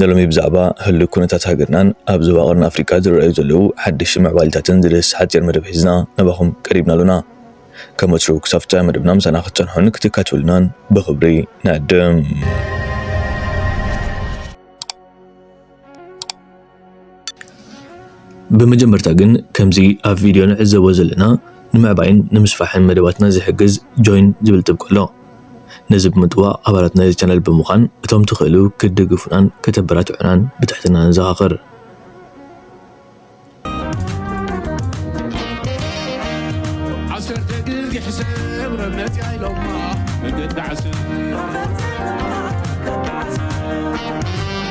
ንሎሚ ብዛዕባ ህሉው ኩነታት ሃገርናን ኣብ ዞባ ቀርኒ ኣፍሪቃ ዝረኣዩ ዘለዉ ሓደሽቲ ምዕባሊታትን ዝድህስስ ሓጺር መደብ ሒዝና ናባኹም ቀሪብና ኣሎና። ከም ወትሩ ክሳብ ፍጻመ መደብና ምሳና ክትጸንሑን ክትካትዑልናን ብኽብሪ ንዕድም። ብመጀመርታ ግን ከምዚ ኣብ ቪድዮ ንዕዘቦ ዘለና ንምዕባይን ንምስፋሕን መደባትና ዝሕግዝ ጆይን ዝብል ጥብቆ ኣሎ። ነዚ ብምጥዋቕ ኣባላት ናይዚ ቻነል ብምዃን እቶም ትኽእሉ ክትድግፉናን ከተበራትዑናን ብትሕትና ንዘኻኽር። ዓሰርተ ግዜ ሕሰብ ረመፅ ኢሎማ መገዲ ዓሰብ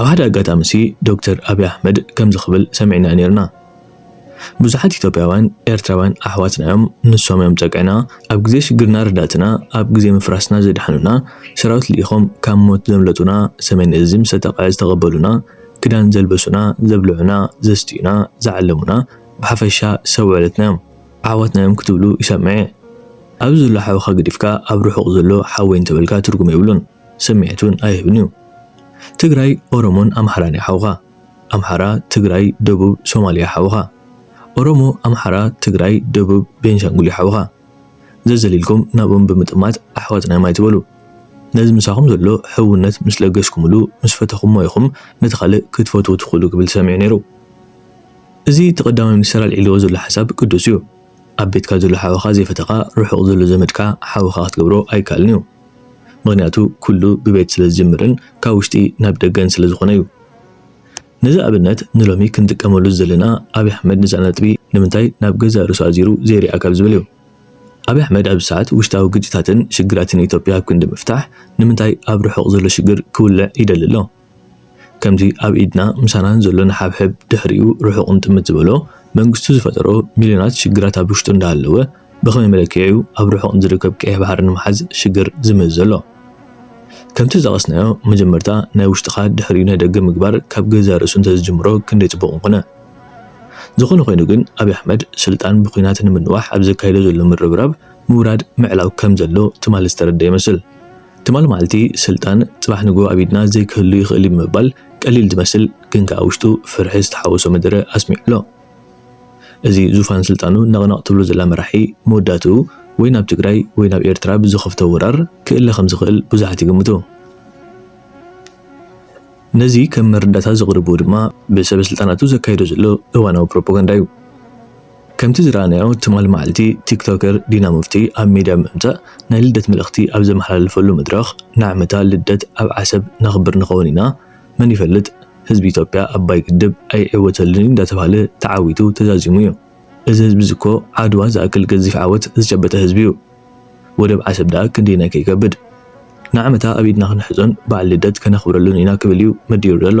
ኣብ ሓደ ኣጋጣሚሲ ዶክተር ኣብይ ኣሕመድ ከምዚ ክብል ሰሚዕናዮ ኔርና። ብዙሓት ኢትዮጵያውያን ኤርትራውያን ኣሕዋትና'ዮም ንሶም'ዮም ጸግዕና ኣብ ግዜ ሽግርና ረዳእትና ኣብ ግዜ ምፍራስና ዘድሓኑና ሰራዊት ልኢኾም ካብ ሞት ዘምለጡና ሰሜን እዚ ምስ ኣጣቕዐ ዝተቐበሉና ክዳን ዘልበሱና ዘብልዑና ዘስትዩና ዝዓለሙና ብሓፈሻ ሰብ ውዕለትና'ዮም ኣሕዋትና'ዮም ክትብሉ ይሰምዕ'የ ኣብዚ ዘሎ ሓውኻ ገዲፍካ ኣብ ርሑቕ ዘሎ ሓወይ እንተበልካ ትርጉም የብሉን ስምዒት'ውን ኣይህብን'ዩ ትግራይ ኦሮሞን ኣምሓራን'ዩ ሓውኻ ኣምሓራ ትግራይ ደቡብ ሶማልያ ሓውኻ። ኦሮሞ ኣምሓራ ትግራይ ደቡብ ቤንሻንጉል ዩ ሓውኻ። ዘዘሊልኩም ናብኦም ብምጥማት ኣሕዋትና ዮም ኣይትበሉ። ነዚ ምሳኹም ዘሎ ሕውነት ምስ ለገስኩምሉ ምስ ፈተኹሞ ኢኹም ነቲ ካልእ ክትፈትዉ ትኽእሉ ክብል ተሰሚዑ ነይሩ። እዚ እቲ ቀዳማይ ሚኒስተር ኣልዒልዎ ዘሎ ሓሳብ ቅዱስ ዩ። ኣብ ቤትካ ዘሎ ሓውኻ ዘይፈተኻ ርሑቕ ዘሎ ዘመድካ ሓውኻ ክትገብሮ ኣይከኣልን ዩ። ምኽንያቱ ኩሉ ብቤት ስለ ዝጅምርን ካብ ውሽጢ ናብ ደገን ስለ ዝኾነ ዩ። ነዚ ኣብነት ንሎሚ ክንጥቀመሉ ዝደለና ኣብይ ኣሕመድ ንዛ ነጥቢ ንምንታይ ናብ ገዛእ ርእሱ ኣዚሩ ዘይሪኣ ካብ ዝብል ዩ። ኣብይ ኣሕመድ ኣብዚ ሰዓት ውሽጣዊ ግጭታትን ሽግራትን ኢትዮጵያ ኣብ ክንዲ ምፍታሕ ንምንታይ ኣብ ርሑቕ ዘሎ ሽግር ክውልዕ ይደሊ ኣሎ? ከምዚ ኣብ ኢድና ምሳናን ዘሎ ንሓብሕብ ድሕሪኡ ርሑቕ ንጥምት ዝበሎ መንግስቱ ዝፈጠሮ ሚልዮናት ሽግራት ኣብ ውሽጡ እንዳሃለወ ብኸመይ መለክዒ'ዩ ኣብ ርሑቕ ንዝርከብ ቀይሕ ባሕሪ ንምሓዝ ሽግር ዝምህዝ ዘሎ? ከምቲ ዝጠቐስናዮ መጀመርታ ናይ ውሽጥኻ ድሕሪኡ ናይ ደገ ምግባር ካብ ገዛእ ርእሱ እንተዝጅምሮ ክንደይ ጽቡቕ ምኾነ። ዝኾነ ኮይኑ ግን ኣብይ ኣሕመድ ስልጣን ብኩናት ንምንዋሕ ኣብ ዘካይዶ ዘሎ ምርብራብ ምውራድ ምዕላው ከምዘሎ ትማሊ ዝተረድኣ ይመስል። ትማል መዓልቲ ስልጣን ጽባሕ ንግሆ ኣብ ኢድና ዘይክህሉ ይኽእል እዩ ብምባል ቀሊል ዝመስል ግን ከኣ ውሽጡ ፍርሒ ዝተሓወሶ መደረ ኣስሚዑ ኣሎ። እዚ ዙፋን ስልጣኑ ነቕነቕ ትብሎ ዘላ መራሒ መወዳእትኡ ወይ ናብ ትግራይ ወይ ናብ ኤርትራ ብዝኸፍቶ ወራር ክእለ ከምዝኽእል ብዙሓት ይግምቱ። ነዚ ከም መረዳእታ ዘቕርብዎ ድማ ብሰበ ስልጣናቱ ዘካይዶ ዘሎ እዋናዊ ፕሮፖጋንዳ እዩ። ከምቲ ዝረኣናዮ ትማል መዓልቲ ቲክቶከር ዲና ሙፍቲ ኣብ ሚድያ ብምምፃእ ናይ ልደት መልእኽቲ ኣብ ዘመሓላለፈሉ መድረኽ ንዓመታ ልደት ኣብ ዓሰብ ነኽብር ንኸውን ኢና መን ይፈልጥ ህዝቢ ኢትዮጵያ ኣባይ ግድብ ኣይዕወተሉን እዩ እንዳተብሃለ ተዓዊቱ ተዛዚሙ እዩ እዚ ህዝቢ እዚ እኮ ዓድዋ ዝኣክል ገዚፍ ዓወት ዝጨበጠ ህዝቢ እዩ ወደብ ዓሰብ ደኣ ክንደየናይ ከይከብድ ንዓመታ ኣብ ኢድና ክንሕዞን በዓል ልደት ከነኽብረሉን ኢና ክብል እዩ መዲሩ ዘሎ።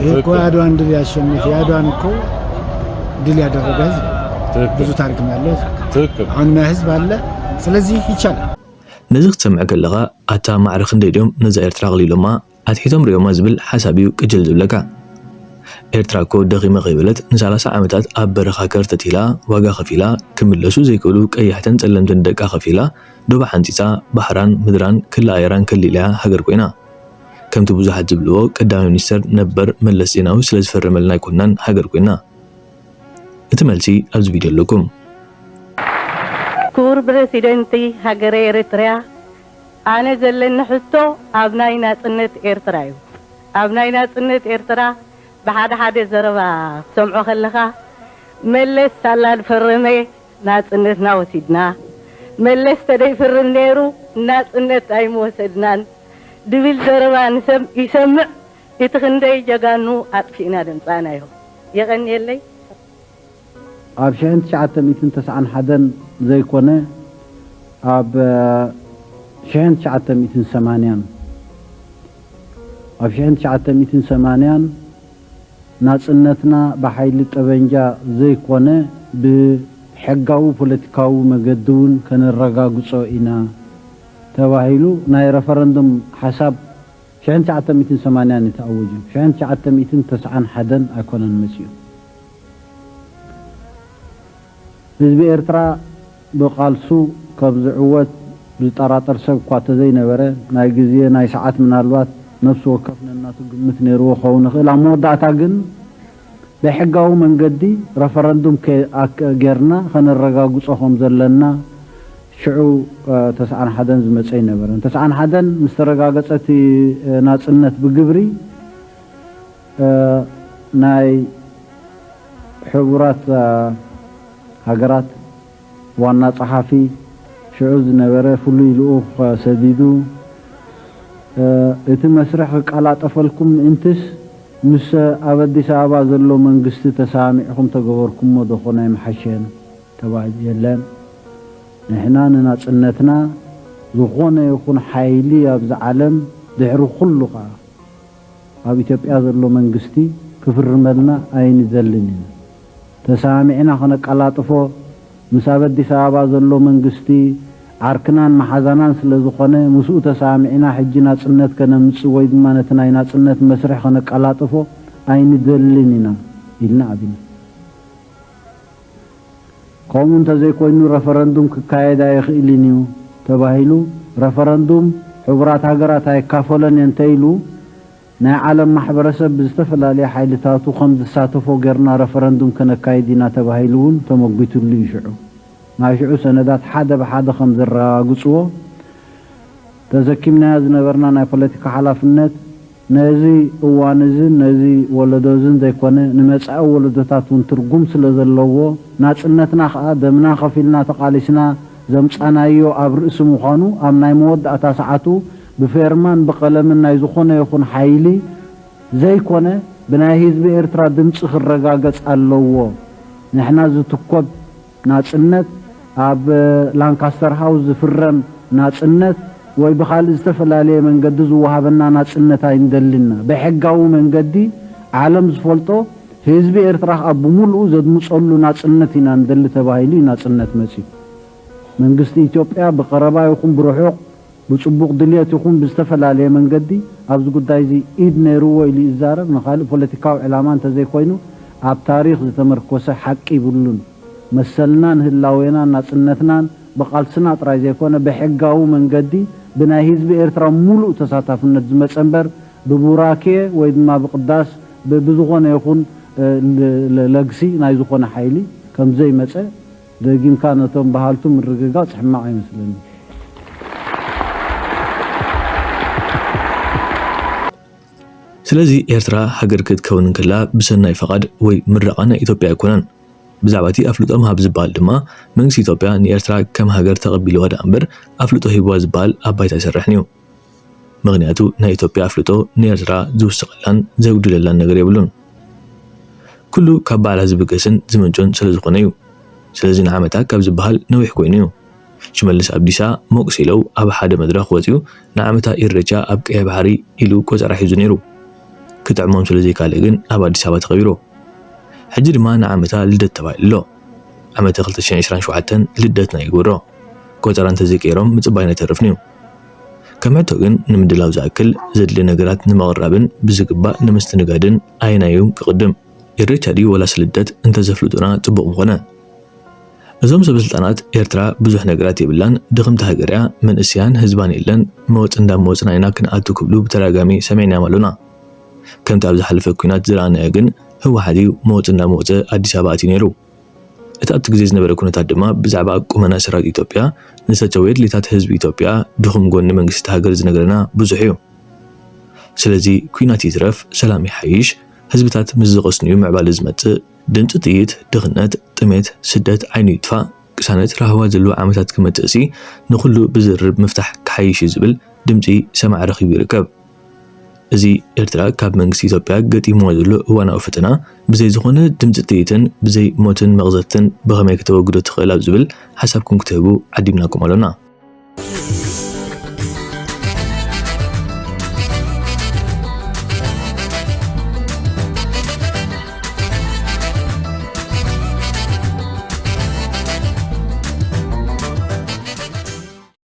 ይህ እኮ የአድዋን ድል ያሸነፈ የአድዋን እኮ ድል ያደረገ ህዝብ ብዙ ታሪክ ያለው ህዝብ አሁን ህዝብ አለ። ስለዚህ ይቻላል። ነዚ ክትሰምዕ ከለኻ ኣታ ማዕረ ክንደይ ድዮም ነዛ ኤርትራ ኣቕሊሎማ ኣትሒቶም ሪኦማ ዝብል ሓሳብ እዩ ቅጅል ዝብለካ። ኤርትራ እኮ ደኺመ ከይበለት ንሳላሳ ዓመታት ኣብ በረኻ ከርተት ኢላ ዋጋ ከፊላ ክምለሱ ዘይክእሉ ቀያሕትን ጸለምትን ደቃ ከፊላ ዶባ ሓንጺጻ ባሕራን ምድራን ክሊ ኣየራን ከሊላ'ያ ሃገር ኮይና። ከምቲ ብዙሓት ዝብልዎ ቀዳማይ ሚኒስተር ነበር መለስ ዜናዊ ስለ ዝፈረመልና ኣይኮናን ሃገር ኮይና። እቲ መልሲ ኣብዚ ቪድዮ ኣለኩም። ክቡር ብረሲደንቲ ሃገረ ኤረትርያ ኣነ ዘለኒ ሕቶ ኣብ ናይ ናጽነት ኤርትራ እዩ ኣብ ናይ ናጽነት ኤርትራ ብሓደ ሓደ ዘረባ ክትሰምዖ ከለካ መለስ ሳላ ድፈረመ ናጽነትና ወሲድና መለስ ተደይፍርም ነይሩ ናጽነት ኣይምወሰድናን ድብል ዘረባ ንሰብ ይሰምዕ እቲ ክንደይ ጀጋኑ ኣጥፊእና ደምጻእናዮ የቀንየለይ። ኣብ ሽሕን ትሽዓተ ሚእትን ተስዓን ሓደን ዘይኮነ ኣብ ሽሕን ትሽዓተ ሚእትን ሰማንያን ኣብ ሽሕን ትሽዓተ ሚእትን ሰማንያን። ናጽነትና ብሓይሊ ጠበንጃ ዘይኮነ ብሕጋዊ ፖለቲካዊ መገዲ'ውን ከነረጋግጾ ኢና ተባሂሉ ናይ ረፈረንዱም ሓሳብ ሽሕን ትሽዓተ ሚእትን ሰማንያን እዩ ተኣወጁ ሽሕን ትሽዓተ ሚእትን ተስዓን ሓደን ኣይኮነን መጺኡ። ህዝቢ ኤርትራ ብቃልሱ ካብ ዝዕወት ዝጠራጠር ሰብ እኳ ተዘይነበረ፣ ናይ ግዜ ናይ ሰዓት ምናልባት ነብሲ ወከፍ ነናቱ ግምት ነይርዎ ክኸውን ይኽእል፣ ኣብ መወዳእታ ግን በሕጋዊ መንገዲ ረፈረንዱም ጌርና ከነረጋግጾ ከም ዘለና ሽዑ ተስዓን ሓደን ዝመጸ ኣይነበረን። ተስዓን ሓደን ምስ ተረጋገጸ እቲ ናጽነት ብግብሪ፣ ናይ ሕቡራት ሃገራት ዋና ጸሓፊ ሽዑ ዝነበረ ፍሉይ ልኡኽ ሰዲዱ፣ እቲ መስርሕ ክቀላጠፈልኩም ምእንትስ ምስ ኣብ ኣዲስ ኣበባ ዘሎ መንግስቲ ተሰማሚዕኩም ተገበርኩሞ ዶኾን ኣይምሓሸን ተባሂሉ። የለን ንሕና ንናጽነትና ዝኾነ ይኹን ሓይሊ ኣብዚ ዓለም ድሕሪ ኩሉ ከኣ፣ ኣብ ኢትዮጵያ ዘሎ መንግስቲ ክፍርመልና ኣይንደልን ኢና። ተሰማሚዕና ከነቀላጥፎ ምስ ኣብ ኣዲስ ኣበባ ዘሎ መንግስቲ ዓርክናን መሓዛናን ስለዝኾነ ምስኡ ተሰማሚዕና ሕጂ ናጽነት ከነምጽእ ወይ ድማ ነቲ ናይ ናጽነት መስርሕ ከነቀላጥፎ ኣይንደልን ኢና ኢልና ኣቢና። ከምኡ እንተዘይኮይኑ ረፈረንዱም ክካየድ ኣይኽእልን እዩ ተባሂሉ ረፈረንዱም ሕቡራት ሃገራት ኣይካፈሎን እየ እንተኢሉ ናይ ዓለም ማሕበረሰብ ብዝተፈላለየ ሓይልታቱ ከምዝሳተፎ ገርና ረፈረንዱም ከነካይድ ኢና ተባሂሉ እውን ተመጒትሉ እዩ ሽዑ ናይ ሽዑ ሰነዳት ሓደ ብሓደ ከምዘረጋግፅዎ ተዘኪምናዮ ዝነበርና ናይ ፖለቲካ ሓላፍነት ነዚ እዋን'ዝን ነዚ ወለዶ'ዝን ዘይኮነ ንመጻኢ ወለዶታት ውን ትርጉም ስለ ዘለዎ፣ ናጽነትና ከኣ ደምና ከፊልና ተቓሊስና ዘምጻናዮ ኣብ ርእሲ ምዃኑ ኣብ ናይ መወዳእታ ሰዓቱ ብፌርማን ብቐለምን ናይ ዝኾነ ይኹን ሓይሊ ዘይኮነ ብናይ ህዝቢ ኤርትራ ድምጺ ክረጋገጽ ኣለዎ ንሕና ዝትኮብ ናጽነት፣ ኣብ ላንካስተር ሃውስ ዝፍረም ናጽነት ወይ ብኻልእ ዝተፈላለየ መንገዲ ዝወሃበና ናጽነት ኣይንደልን'ና። ብሕጋዊ መንገዲ ዓለም ዝፈልጦ ህዝቢ ኤርትራ ከኣ ብምሉኡ ዘድምጸሉ ናጽነት ኢና ንደሊ ተባሂሉ'ዩ ናጽነት መጺኡ። መንግስቲ ኢትዮጵያ ብቀረባ ይኹን ብርሑቕ ብጽቡቕ ድልየት ይኹን ብዝተፈላለየ መንገዲ ኣብዚ ጉዳይዚ ኢድ ነይርዎ ኢሉ ይዛረብ፣ ንኻልእ ፖለቲካዊ ዕላማ እንተዘይኮይኑ ኣብ ታሪኽ ዝተመርኮሰ ሓቂ ይብሉን። መሰልናን ህላዌናን ናጽነትናን ብቓልስና ጥራይ ዘይኮነ ብሕጋዊ መንገዲ ብናይ ህዝቢ ኤርትራ ሙሉእ ተሳታፍነት ዝመጸ እምበር ብቡራኬ ወይ ድማ ብቕዳስ ብዝኾነ ይኹን ለግሲ ናይ ዝኾነ ሓይሊ ከምዘይመጸ ደጊምካ ነቶም በሃልቱ ምርግጋጽ ሕማቕ ኣይመስለንን። ስለዚ ኤርትራ ሃገር ክትከውን እንከላ ብሰናይ ፈቓድ ወይ ምረቓ ናይ ኢትዮጵያ ኣይኮነን። ብዛዕባ እቲ ኣፍልጦ ምሃብ ዝበሃል ድማ መንግስቲ ኢትዮጵያ ንኤርትራ ከም ሃገር ተቐቢልዋ ደኣምበር ኣፍልጦ ሂብዋ ዝበሃል ኣብ ባይታ ኣይሰርሕን እዩ። ምኽንያቱ ናይ ኢትዮጵያ ኣፍልጦ ንኤርትራ ዝውስኸላን ዘጉድለላን ነገር የብሉን። ኩሉ ካብ ባዕላ ዝብገስን ዝምንጩን ስለዝኾነ እዩ። ስለዚ ንዓመታ ካብ ዝበሃል ነዊሕ ኮይኑ እዩ። ሽመልስ ኣብዲሳ ሞቅ ሲለው ኣብ ሓደ መድረኽ ወጺኡ ንዓመታ ኢሬቻ ኣብ ቀይሕ ባሕሪ ኢሉ ቆጸራ ሒዙ ነይሩ። ክጥዕሞም ስለዘይካለእ ግን ኣብ ኣዲስ ኣበባ ተኸቢሩ። ሕጂ ድማ ንዓመታ ልደት ተባሂሉ ኣሎ። ዓመተ ክልተ ሽሕን ዕስራን ሸውዓተን ልደትና ይግበሮ። ቆጸራ እንተዘይቀይሮም ምጽባይና ይተርፍን'ዩ። ከም ሕቶ ግን ንምድላው ዝኣክል ዘድሊ ነገራት ንምቕራብን ብዝግባእ ንምስትንጋድን ኣየናይ'ዩ ክቕድም? ኢሬቻ ድዩ ወላስ ልደት እንተዘፍልጡና ጽቡቕ ምኾነ። እዞም ሰበስልጣናት ኤርትራ ብዙሕ ነገራት የብላን ድኽምቲ ሃገር'ያ መንእሰያን ህዝባን የለን መወጽ እንዳመወጽና ኢና ክንኣቱ ክብሉ ብተደጋጋሚ ሰሚዕናዮም ኣሎና ከምቲ ኣብ ዝሓለፈ ኲናት ዝረኣናዮ ግን ህወሓት'ዩ መወጽ እንዳመወጸ ኣዲስ ኣበባ ኣትዩ ነይሩ እቲ ኣብቲ ግዜ ዝነበረ ኩነታት ድማ ብዛዕባ ቁመና ሰራዊት ኢትዮጵያ ንዝተቸወ የድልታት ህዝቢ ኢትዮጵያ ድኹም ጎኒ መንግስቲ እታ ሃገር ዝነግረና ብዙሕ እዩ። ስለዚ ኩናት ይትረፍ ሰላም ይሓይሽ ህዝብታት ምስ ዝቕስኑ እዩ ምዕባለ ዝመጽእ። ድምጺ ጥይት፣ ድኽነት፣ ጥሜት፣ ስደት ዓይኑ ይጥፋእ፣ ቅሳነት፣ ራህዋ ዘለዎ ዓመታት ክመጽእሲ ንኹሉ ብዝርርብ ምፍታሕ ክሓይሽ እዩ ዝብል ድምጺ ሰማዒ ረኺቡ ይርከብ። እዚ ኤርትራ ካብ መንግስቲ ኢትዮጵያ ገጢምዋ ዘሎ እዋናዊ ፈተና ብዘይ ዝኾነ ድምጺ ጥይትን ብዘይ ሞትን መቕዘፍትን ብኸመይ ከተወግዶ ትኽእል ኣብ ዝብል ሓሳብኩም ክትህቡ ዓዲምናኩም ኣሎና።